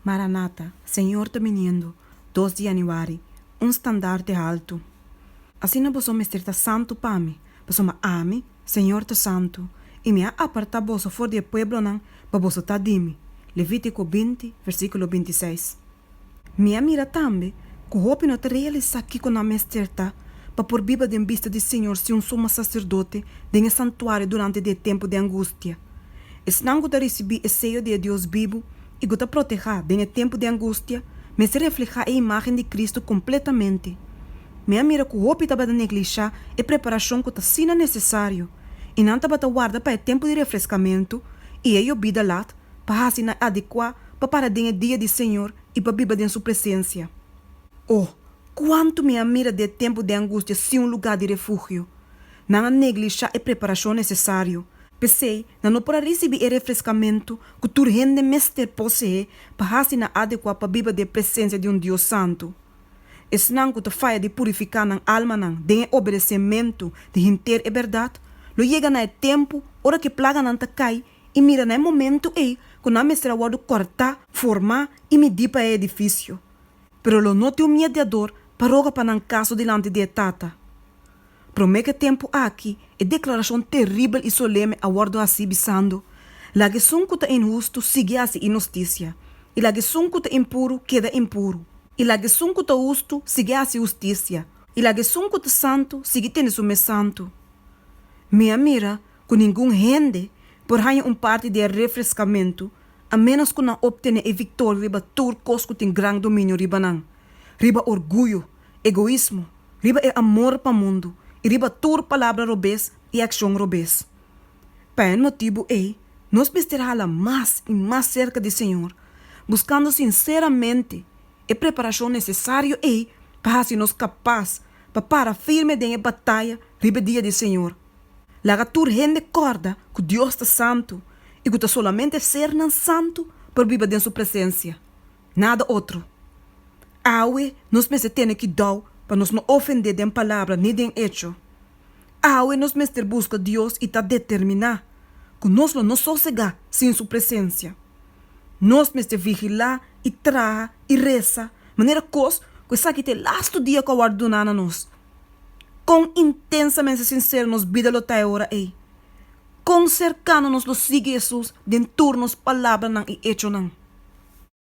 Maranata, Señor ta biniendo, dos di Januari, un standarte haltu. Asina boso mester ta santu pa mi, pasobra ami, Señor, ta santu, i mi a apartá boso for di e pueblonan pa boso ta di mi. Levítiko binti, versíkulo binti i seis. Mi a mira tambe ku hopi no ta realisá kiko nan mester ta pa por biba den bista di Señor si un suma saserdote den e santuario durante di e tempu di angustia. Esnan ku ta risibí e seyo di e Dios bibu i ku ta protehá den e tempu di angustia, mester reflehá e imágen di Kristu kompletamente. Mi a mira ku hopi tabata neglishá e preparashon ku ta asina nesesario, i nan tabata warda pa e tempu di refreskamentu i e yobida lat pa hasi nan adekuá pa para den e dia di Señor i pa biba den su presensia. O, kuantu mi a mira di e tempu di angustia sin un lugá di refugio! Nan a neglishá e preparashon nesesario, p'esei nan no por a risibí e refreskamentu ku tur hende mester poseé pa hasi nan adekuá pa biba den presensia di un Dios santu. Esnan ku ta faya di purifiká nan almanan den e obedesementu di henter e bèrdat, lo yega na e tempu ora ku e plaganan ta kai i mira na e momentu ei ku nan mester a wòrdu kòrtá, formá i midí pa e edifisio. Pero lo no tin un miediador pa roga pa nan kaso dilanti di e Tata. Promé ke tempu aki, e deklarashon teribel i soleme a wòrdu hasí bisando, Laga esun ku ta inhustu sigui hasi inhustisia, i laga esun ku ta impuru keda impuru, i laga esun ku ta hustu sigui hasi hustisia, i laga esun ku ta santu sigui tene su mes santu. Mi a mira ku ningun hende por haña un parti di e refreskamentu a ménos ku nan optené e viktoria riba tur kos ku tin gran dominio riba nan, riba orguyo, egoismo, Riba e amor pa mundu i riba tur palabra robes i akshon robes. Pa e motibu ei nos mester hala mas i mas serka di Señor, buskando sinseramente e preparashon nesesario ei pa hasi nos kapas pa para firme den e bataya riba e dia di Señor. Laga tur hende kòrda ku Dios ta santu i ku ta solamente sernan santu pa biba den su presensia. Nada otro. Awe nos mester tene kidou pa nos no ofendé den palabra ni den echo. Awe nos mester buska Dios i ta determiná ku nos lo no sosegá sin su presensia. Nos mester vigilá i traha i resa manera kos ku esaki ta e lastu dia ku a wòrdu duná na nos. Kon intensamente sinsero nos bida lo ta e ora ei! Kon serkano nos lo sigui Hesus den tur nos palabranan i echonan!